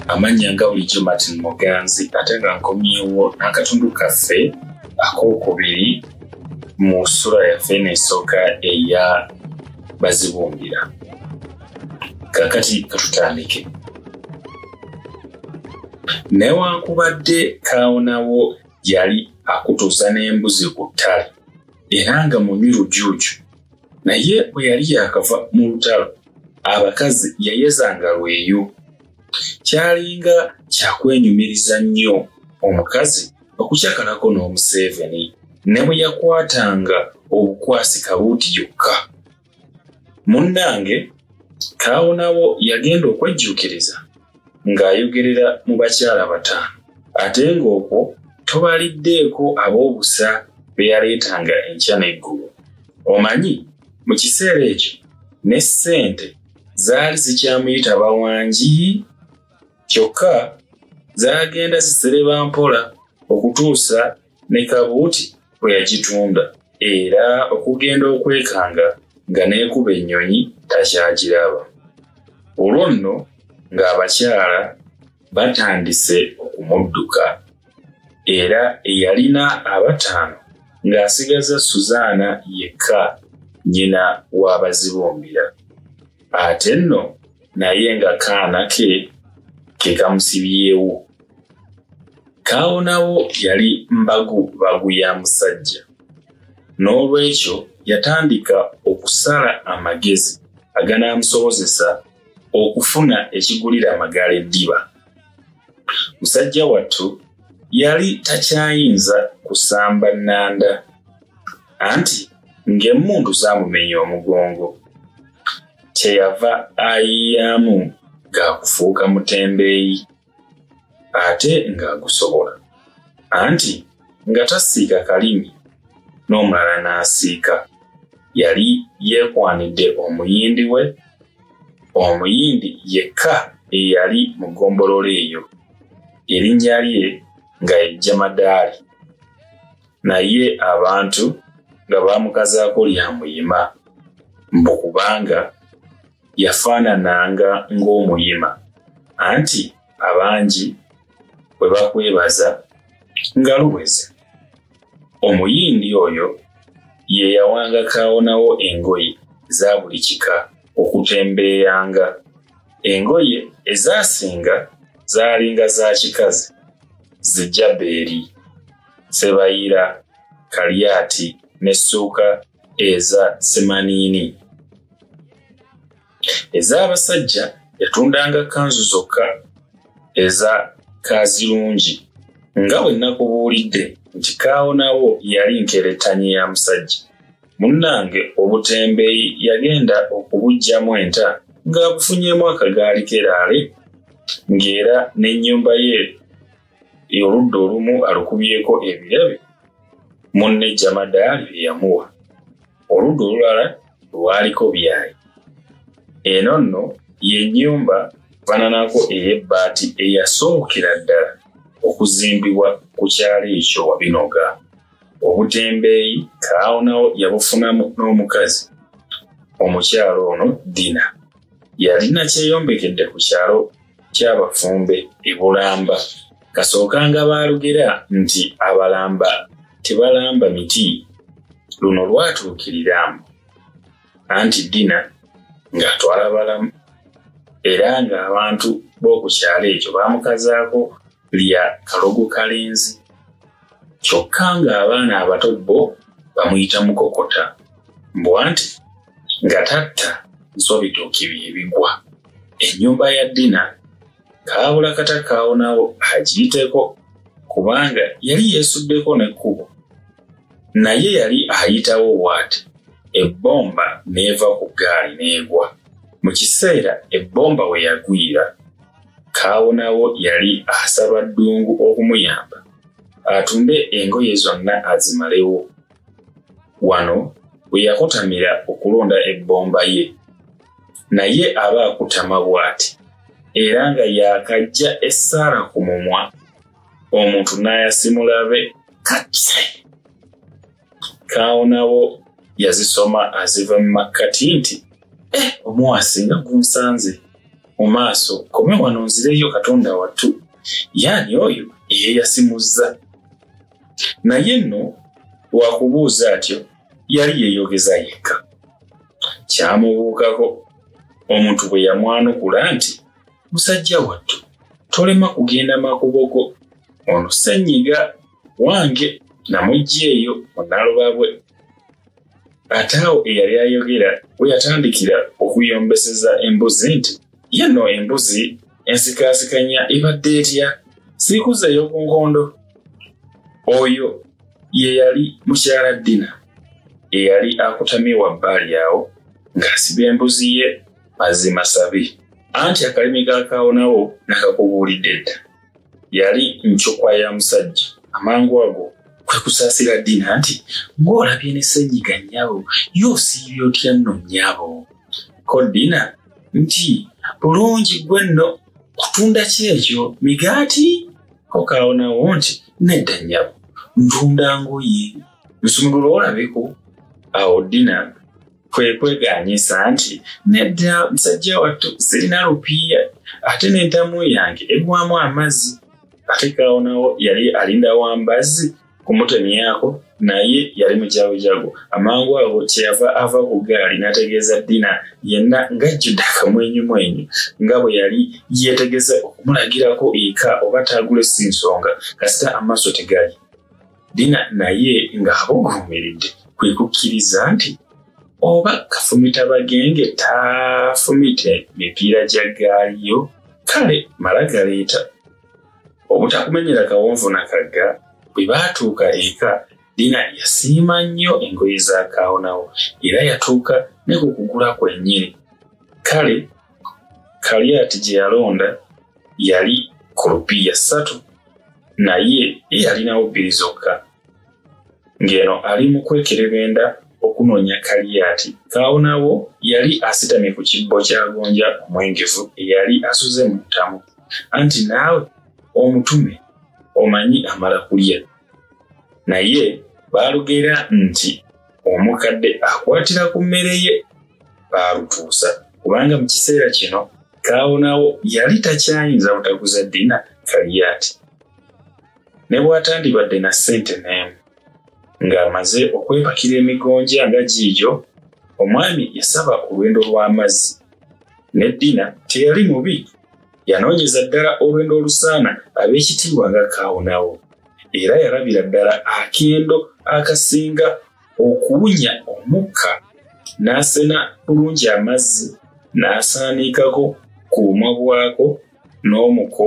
amannya nga bulijjo martin muganzi ate nga nkomyewo n'akatundu kaffe ak'okubiri mu sula yaffe eneesooka eya bazibumbira kakati katutandike newankubadde kaawonawo yali akutuuza n'embuzi ku ttale era nga munywi lujuuju naye bwe yali yakava mu lutalo abakazi yayezanga lweyo kyalinga kyakwenyumiriza nnyo omukazi okukyakalako n'omuseeveni ne bwe yakwatanga obukwasi kabuuti yokka munnange kaawonawo yagenda okwejjuukiriza ng'ayogerera mu bakyala bataano ate ng'okwo tobaliddeeko ab'obusa be yaleetanga enkya n'eggulu omanyi mu kiseera ekyo ne ssente zaali zikyamuyita bawangi kyokka zaagenda zisereba mpola okutuusa ne kabuuti bwe yagitunda era okugenda okwekanga nga n'ekuba ennyonyi takyagiraba olwo nno ng'abakyala batandise okumudduka era eyalina abataano ng'asigaza suzaana yekka nnyina w'abazibumbira ate nno naye nga kaana ke kekamusibyewo kaawonawo yali mbagu bagu ya musajja n'olwekyo yatandika okusala amagezi aganaamusobozesa okufuna ekigulira amagaala eddiba musajja wattu yali takyayinza kusamba nnanda anti ng'emmundu zaamumenya omugongo kyeyava ayiyaamu ga kufuuka mutembeeyi ate ng'agusobola anti nga tasiika kalimi n'omulala n'asiika yali yeekwanidde omuyindi we omuyindi yekka eyali mu ggombolola eyo erinnya lye nga ye jamadaali naye abantu nga baamukazaako lya muyima mbu kubanga yafaanananga ng'omuyima anti abangi bwe bakwebaza nga luweze omuyindi oyo ye yawanga kaawonawo engoye eza buli kika okutembeeyanga engoye ezaasinga zaalinga za kikazi zijja beeri Sebayira, Kaliati ne Suuka eza Semaniini. Ez'abasajja yatundanga kanzu zokka eza Kaazirungi nga bwe nakubuulidde nti kaawonawo yali nkerettanyi ya musajja. Munnange obutembeeyi yagenda okubuggyamu enta ng'abufunyemu akagaali keraale ng'era n'ennyumba ye oludda olumu alukubyeko ebirabe munne jamadaali bye yamuwa oludda olulala lwaliko byayi eno nno y'ennyumba fananako ey'ebbaati eyasookera ddala okuzimbibwa ku kyalo ekyo wabinoga obutembeeyi kaawonawo yabufunamu n'omukazi omukyalo ono dina yalina kyeyombekedde ku kyalo ky'abafumbe e Bulamba kasookanga baalugera nti abalamba tebalamba miti luno lwatuukiriramu anti ddina ng'atwala balamu era ng'abantu b'oku kyalo ekyo baamukazaako lya kalogo kalenzi kyokka ng'abaana abato bo bamuyita mukokota mbwa nti nga tatta nsobitooki bye bigwa ennyumba ya dina kaabula kata kaawonawo agiyiteko kubanga yali yeesuddeko n'ekkubo naye yali ayitawo waati ebbomba n'eva ku ggaali n'egwa mu kiseera ebbomba we yagwira Kaawonawo yali asaba ddungu okumuyamba atumbe engoye zonna azimalewo. Wano we yakutamira okulonda ebbomba ye. Naye aba akutama bw'ati era nga yaakajja essaala ku mumwa omuntu n'ayasimulabe katse. kaawo nabo yazisoma aziva mu makkati nti eh, omuwasi nga gunsanze mu maaso kome wano nzireyo katonda wattu yaani oyo eyeyasimuzza naye nno wakubuuza atyo yali yeyogeza yekka kyamubuukako omuntu bwe yamwanukula nti musajja wattu tolema kugenda makubo go ono senyiga wange namujja eyo munalubabwe ate awo eyali ayogera bwe yatandikira okuyombeseza embuzi nti yenno embuzi ensikaasikanya ebadde etya siikuzeeyo ku nkondo oyo ye yali mukyala ddina eyali akutamye wabbali awo ng'asiba embuzi ye mazima sabi anti akalimi gakaawonawo nakakubuulidde dda yali ncukwa ya musajja amangu ago kwe kusaasira ddiina nti ng'olabye ne senyiga nnyabo yoosiibye otya nno nnyabo ko ddiina nti bulungi gwe nno kutunda ki ekyo migaati ko kaawonawo nti nedda nnyabo ntunda ngoye nsumulula olabeko awo ddiina kwe kweganyisa nti nedda musajja wattu sirina lupiiya ate n'entamu yange eggwamu amazzi ate kawonawo yali alinda wa mbazzi kumutemyako naye yali mujagujagu amangu ago kyeyava ava ku gaali n'ategeeza dina yenna ng'ajjudde akamwenyumwenyu nga bwe yali yeetegeza okumulagirako eka oba taagule si nsonga kasita amaaso tegali Dina naye ng'abuguumiridde kwe kukkiriza nti oba kafumita bagenge taafumite mipiira gya ggaali yo kale mala galeeta obutakumenyera kawonvu na kagga bwe baatuuka eka dina yasiima nnyo engoye za kaawonawo era yatuuka ne ku kugula kwennyini kale kaliyati gye yalonda yali kulupiya ssatu naye yalinawo bbiri zokka ng'eno ali mu kwekerebenda okunoonya kaliyati kaawonawo yali asitamye ku kibbo kyagonja omwengevu eyali asuze mu ntamu anti naawe omutume omanyi amala kulya naye baalugeera nti omukadde akwatira ku mmere ye baalutuusa kubanga mu kiseera kino kaawonawo yali takyayinza butaguza dina kaliyaati ne bw'atandibadde na ssente n'emu ng'amaze okwepakira emigonja nga giigyo omwami yasaba olwendo lw'amazzi ne dina teyali mubi yanoonyeza ddala olwendo olusaana ab'ekitiibwa nga kaawonawo era yalabira ddala akendo akasinga okuwunya omukka n'asena bulungi amazzi n'asaaniikako ku bumwa bwako n'omuko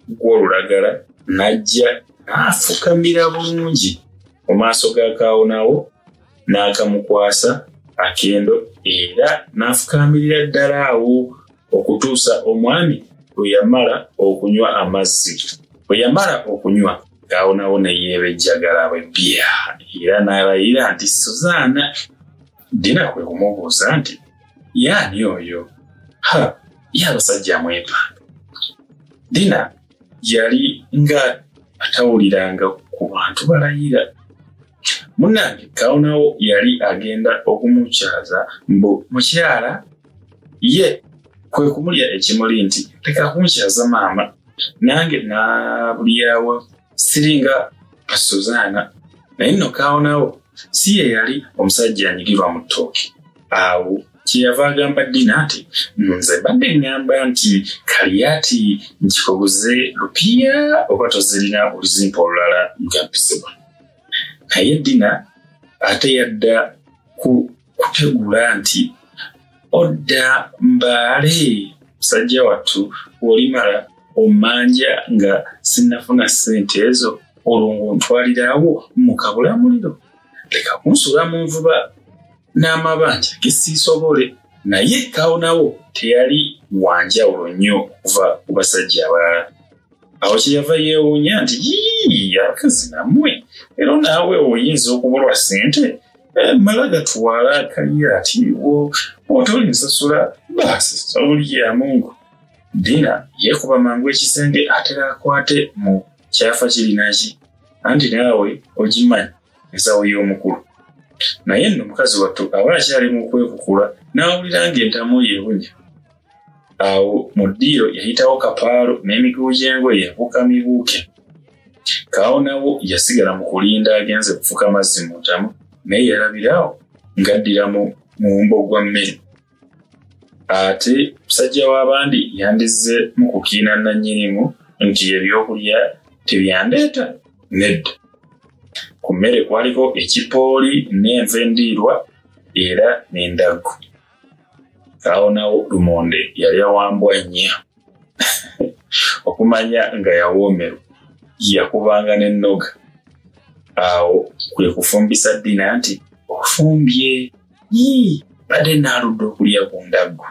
gw'olulagala n'ajja n'afukamira bulungi mu maaso ga kaawonawo n'akamukwasa akendo era n'afukaamirira ddala awo okutuusa omwami bwe yamala okunywa amazzi bwe yamala okunywa ngaawonawo neyeebejjagala bwe bya era n'alayira nti suzaana dina kwe kumubuuza nti yaani oyo ha ye abasajja mwepa dina yali nga atawuliranga ku bantu balayira munange kawonawo yali agenda okumukyaza mbu mukyala ye kwe kumulya ekimuli nti leka kunkyaza maama nange nabulyawo siringa pasuzaana naye nno kaawonawo si ye yali omusajja anyigirwa mu ttooki awo kyeyava agamba dina nti nze mbadde ŋŋamba nti kaliyaati nkikoguze lupiya oba tozirina oluzimpa olulala lugampizibwa naye dina ate yadda ku kutegula nti odda mbaale musajja wattu olimala omanja nga sinnafuna ssente ezo olwo ng'ontwaliraawo mu kabulamuliro leka kunsula mu nvuba n'amabanja ge siisobole naye kawunawo teyali wanjawulo nnyo okuva ku basajja abalala awo kyeyava yeewuunya nti yii akazi nammwe era naawe oyinza okubulwa ssente mala gatwala akalya ati otoli nsasula baasi olya mungu dina yekuba mangu ekisenge atera akwate mu kyafa kirinaki anti naawe ogimanyi ensawo y'omukulu naye nno mukazi wattu aba akyali mu kwekukula n'awulira ng'entamu yeewunya awo mu ddiiro yayitawo kapaalo n'emigugu gy'engoye ebuuka mibuuke kaawo nawo yasigala mu kulinda agenze kufuka amazzi mu ntamu naye yalabiraawo ng'addira mu mumbo gwa mmere ate musajja w'abandi yandizze mu kukiina nannyinimu nti ebyokulya tebyandeeta nedda ku mmere kwaliko ekipooli n'enva endiirwa era n'endaggu awo nawo lumonde yali awambwa nnya okumanya nga yawoomerwa yakubanga n'ennoga awo kwe kufumbisa ddina nti ofumbye yii badde naaludde okulya ku ndaggu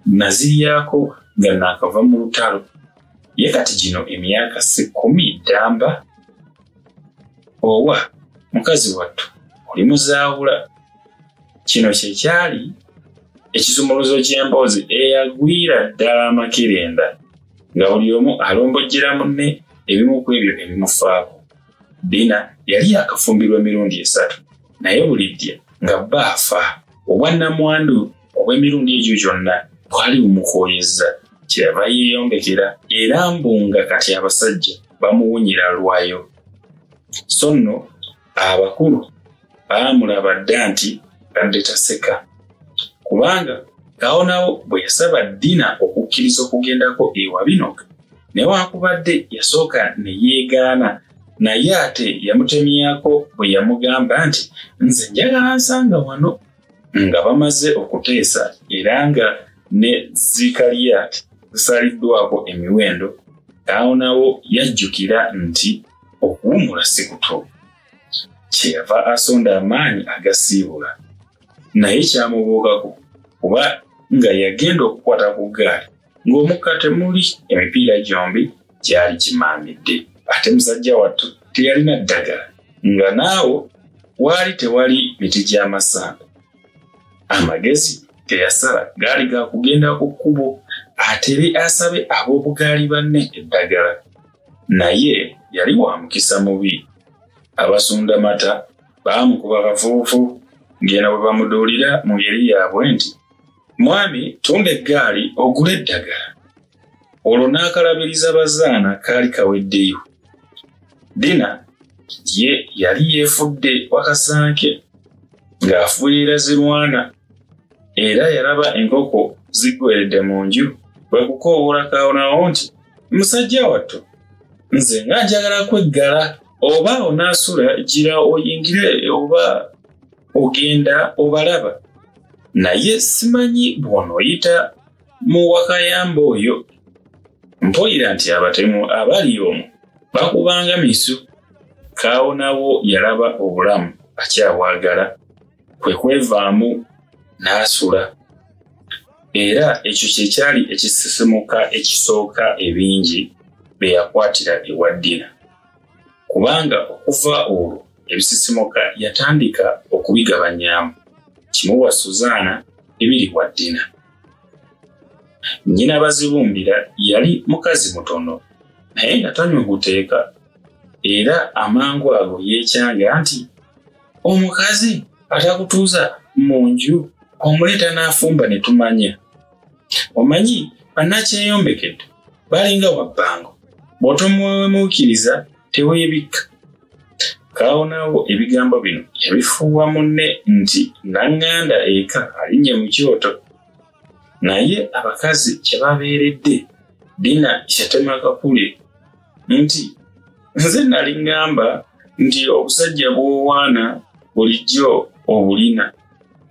naziryako nga naakava mu lutalo ye kati gino emyaka si kkumi ddamba owa mukazi wattu oli muzaawula kino kye kyali ekisumuluzo ky'emboozi eyagwira ddala amakerenda nga buli omu alombojjera munne ebimu ku ebyo ebimufaako dina yali yakafumbirwa emirundi esatu naye bulijja nga bba afa obwannamwandu obw'emirundi egyo gyonna bwali bumukooyezza kyeyava yeeyongekera era mbu nga kati abasajja bamuwunyira lwayo so nno abakulu baamulaba dda nti badde taseka kubanga awo nawo bwe yasaba dina okukkiriza okugendako ewa binoka newankubadde yasooka ne yeegaana naye ate yamutemyako bwe yamugamba nti nze njagala nsanga wano nga bamaze okuteesa era nga ne zikaliyat zisaliddwako emiwendo awo nawo yajjukira nti okuwumula si kuto kyeyava asonda amaanyi agasiibula naye kyamubuukako kuba nga yagenda okukwata ku ggaali ng'omukka temuli emipiira gyombi gyali gimaamidde ate musajja wattu teyalina ddagala nga naawo waali tewali miti gy'amasanda amagezi teyasala gaali ga kugenda ku kkubo atere asabe ab'obugaali banne eddagala naye yali wa mukisa mubi abasunda mata baamukuba bavuuvu ng'eno bwe bamuduulira mu ngeri yaabwe nti mwami tunda eggaali ogula eddagala olwo n'akalabiriza bazaana kaali kaweddeyo dina ye yali yeefudde wakasanke ng'afuuyira zirwana era yalaba enkoko ziggweredde mu nju bwe kukoowoola kaawonawo nti musajja wattu nze nga njagala kweggala oba onaasula gira oyingire oba ogenda obalaba naye simanyi bw'onooyita mu wakayamba oyo mpulira nti abatemu abali omu bakubanga misu kaawonawo yalaba obulamu akyabwagala kwe kwevaamu n'asula era ekyo kye kyali ekisisimuka ekisooka ebingi be yakwatira ewa ddina kubanga okuva olwo ebisisimuka yatandika okubigabanyamu kimu wa suzaana ebiri wa ddina nnyina bazibumbira yali mukazi mutono naye nga tanywa guteeka era amangu ago yeekyanga nti omukazi atakutuuza mu nju omuleeta n'afumba ne tumanya omanyi banakyeyombekedde balinga wabbango bw'otomuwemuukiriza teweebikka kaawonawo ebigambo bino yabifuuwa munne nti naŋŋanda eka alinye mu kyoto naye abakazi kye babeeredde dina yatema kakule nti nze nali ŋŋamba nti obusajja bw'owaana bulijjo obulina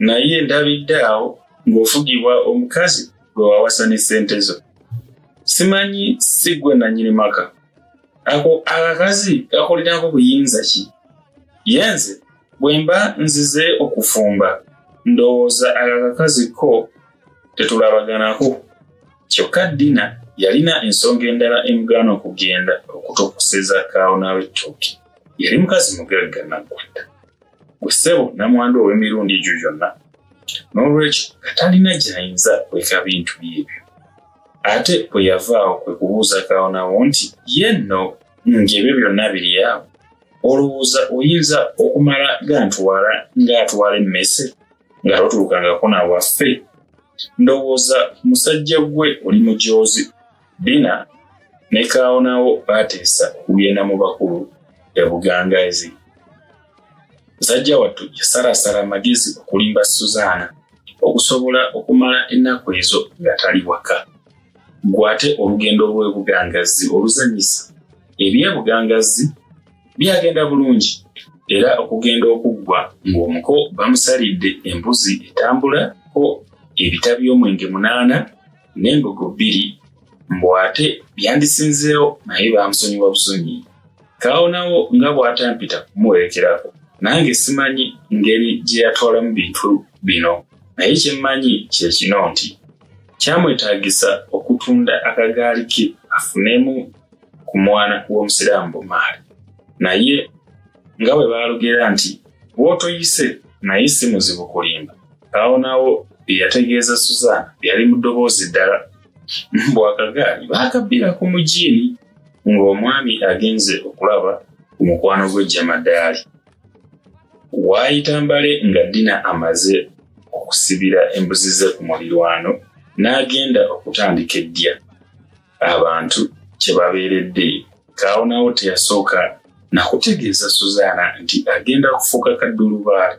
naye ndabidde awo ng'ofugibwa omukazi gwe wawasa ne ssente zo simanyi si gwe nannyini maka ako akakazi kakolinako buyinza ki ye nze bwe mba nzize okufumba ndowooza akakakazi ko tetulabaganako kyokka dina yalina ensonga endala emugaana okugenda okutukuseza kaawo n'awettooki yali mukazi mugagga naggwadda gwe ssebo namwandu ow'emirundi egyo gyonna n'olwekyo katalina gy'ayinza kweka bintu byebyo ate bwe yavaawo kwe kubuuza kaawo nawo nti ye nno ng'ebyo byonna biri awo olowooza oyinza okumala gantwala ng'atwala emmese nga totulukangako na waffe ndowooza musajja gwe oli mujoozi dina ne kaawonawo baateesa okugenda mu bakulu ebugangazi musajja wattu yasalaasala amagezi okulimba suzaana okusobola okumala ennaku ezo nga tali waka gwate olugendo lw'ebugangazi oluzanyisa ebyebugangazzi byagenda bulungi era okugenda okuggwa ng'omuko bamusalidde embuzi etambula ko ebita by'omwenge munaana n'embogo bbiri mbu ate byandisinzeewo naye baamusonyiwa busonyi kaawonawo nga bw'atampita kumuwerekerako nange simanyi ngeri gye yatwalamu bintu bino naye kye mmanyi kye kino nti kyamwetaagisa okutunda akagaali ke afunemu ku mwana w'omusiraamu bumaali naye nga bwe baalugera nti bw'otoyise naye si muzibu kulimba awo naawo bye yategeeza suzaana yali mu ddoboozi ddala bwakagaali baakabbira ku mujiini ng'omwami agenze okulaba ku mukwano gwe jamadaali waayita mbale nga dina amaze okusibira embuzi ze ku mulirwano n'agenda okutandika eddya abantu kye babeeredde kaawo naawo teyasooka nakutegeeza suzaana nti agenda kufuuka kaddulubaale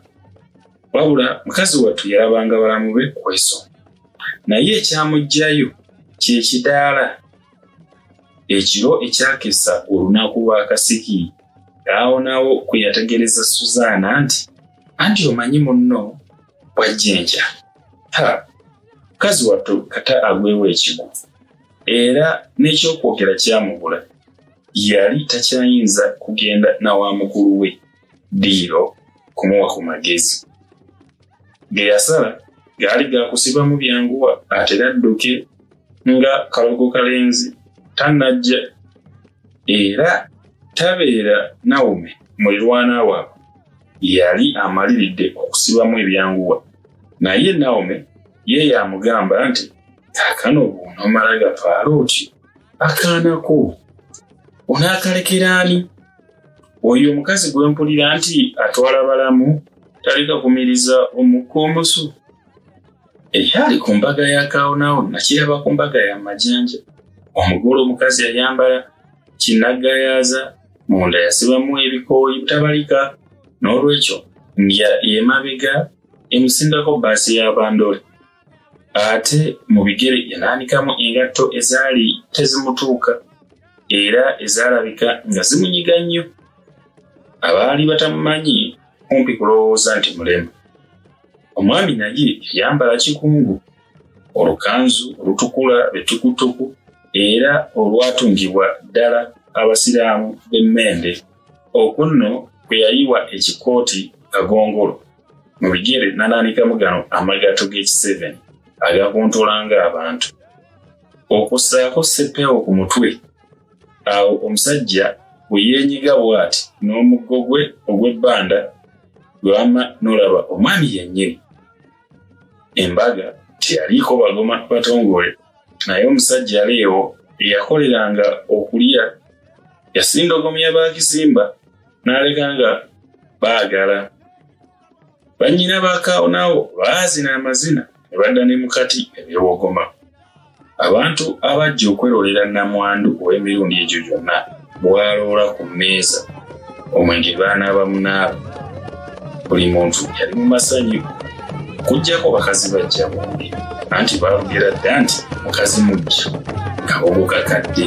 wabula mukazi wattu yalabanga balamu be kweso naye ekyamugjayo kyekidaala ekiro ekyakesa olunaku lwakasiki kaawo naawo kwe yategeereza suzaana nti anti omanyi munno wajjinja ha mukazi wattu kata agwewo ekigo era n'ekyokwogera kyamubula yali takyayinza kugenda na wa mukulu we diiro kumuwa ku magezi ge yasala gaali gakusibamu byanguwa atera adduke nga kalogo kalenzi tanajja era tabeera nawume mulirwana waabwe yali amaliridde okusibamu ebyanguwa naye naome ye yamugamba nti kakano bwonomala gapaala otyo akaanako onaakalekera ani oyo omukazi gwe mpulira nti atwala balamu taleka kumiriza omukka omusu ekyali ku mbaga ya kaawonaawo nakiraba ku mbaga ya majanja omugole omukazi yayambala kinagayaaza munda yasibamu ebikooyi butabalika n'olwekyo ndya emabega emusindako baasi ya bandole ate mu bigere yanaanikamu engatto ezaali tezimutuuka era ezaalabika nga zimunyiga nnyo abaali batamumanyi kumpi kulowooza nti mulema omwami naye yayambala kikungu olukanzu olutukula etukutuku era olwatungibwa ddala abasiraamu b'emmende okwo nno kwe yayiwa ekikooti kagongolo mu bigere nananikamu gano amagato g'ekiseven agakuntulanga abantu okussaako seppeewo ku mutwe awo omusajja bwe yeenyiga bw'ati n'omuggo gwe ogw'ebbanda gwama n'olaba omwami yennyini embaga teyaliiko bagoma batongole naye omusajja aleewo eyakoleranga okulya yasindogomya bakisimba n'aleka nga baagala bannyina bakaawo naawo baazina amazina ne badda ne mukati ebyewogoma Abantu abajja okwerolera namwandu ow'emirundi egyo gyonna bwaloola ku mmeeza omwenge baanaaba munaaba buli muntu yali mu masanyu kujjako bakazi bajja bombi anti baalugera dda nti mukazi mujja kabogo kakadde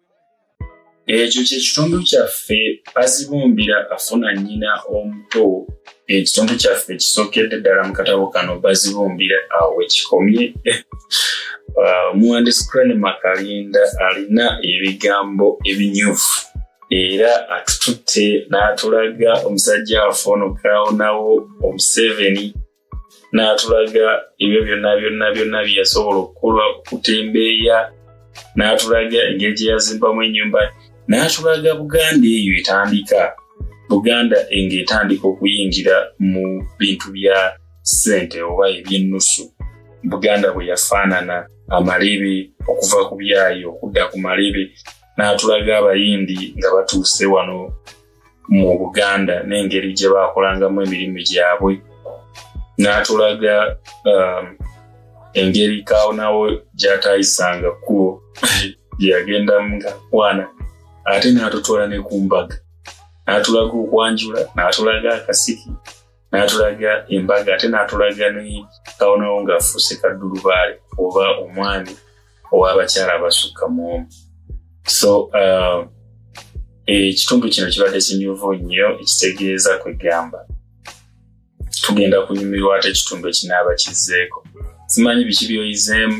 ekyo kyekitundu kyaffe bazibumbira afuna nyina omuto ekitundu kyaffe kisokedde ddala mu katabo kano bazibumbira awo ekikomye uh, omuwandiisi crane makalinda alina ebigambo ebinyuvu era atututte n'atulaga omusajja waffe ono kaawonawo omuseveni n'atulaga ebyo byonna byonna byonna bye yasobola okukola okutembeeya n'atulaga engeri gye yazimbamu ennyumba n'atulaga buganda eyo etandika buganda enga etandika okuyingira mu bintu bya ssente oba ebyennusu buganda bwe yafaanana amalebe okuva ku byayi okudda ku malebe n'atulaga abayindi nga batuuse wano mu buganda n'engeri gye baakolangamu emirimu gyabwe n'atulaga um, engeri kaawo nawo gyataayisanga kkubo gyeyagenda mukwana ate n'atutwala ne ku mbaga n'atulaga okwanjula n'atulaga akasiki n'atulaga embaga ate n'atulaga ne kawonawo ng'afuuse kaddulubaale oba omwami ow'abakyala abasukka mu omu so uh, ekitundu kino kibadde kinyuvu nnyo ekitegeeza kwegamba tugenda kunyumirwa ate ekitundu ekinaaba kizzeeko simanyi biki byoyizeemu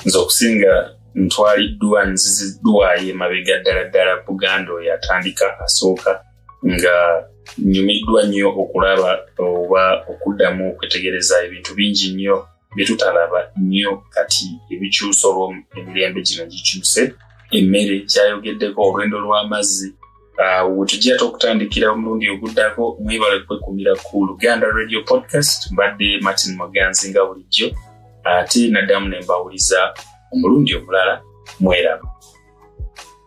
nze okusinga ntwaliddwa nziziddwayo emabega ddala ddala buganda oyo atandika asooka nga nyumiddwa nnyo okulaba oba okuddamu okwetegereza ebintu bingi nnyo byetutalaba nnyo kati ebikyusa olwo emirembe gino gikyuse emmere kyayogeddeko olwendo lw'amazzi ah, wetujja te okutandikira omulundi oguddako mwebale kwekumira ku luganda radio podcast mbadde martin muganzi nga bulijjo ate naddamu ne mbawuliza omulundi omulala mweraba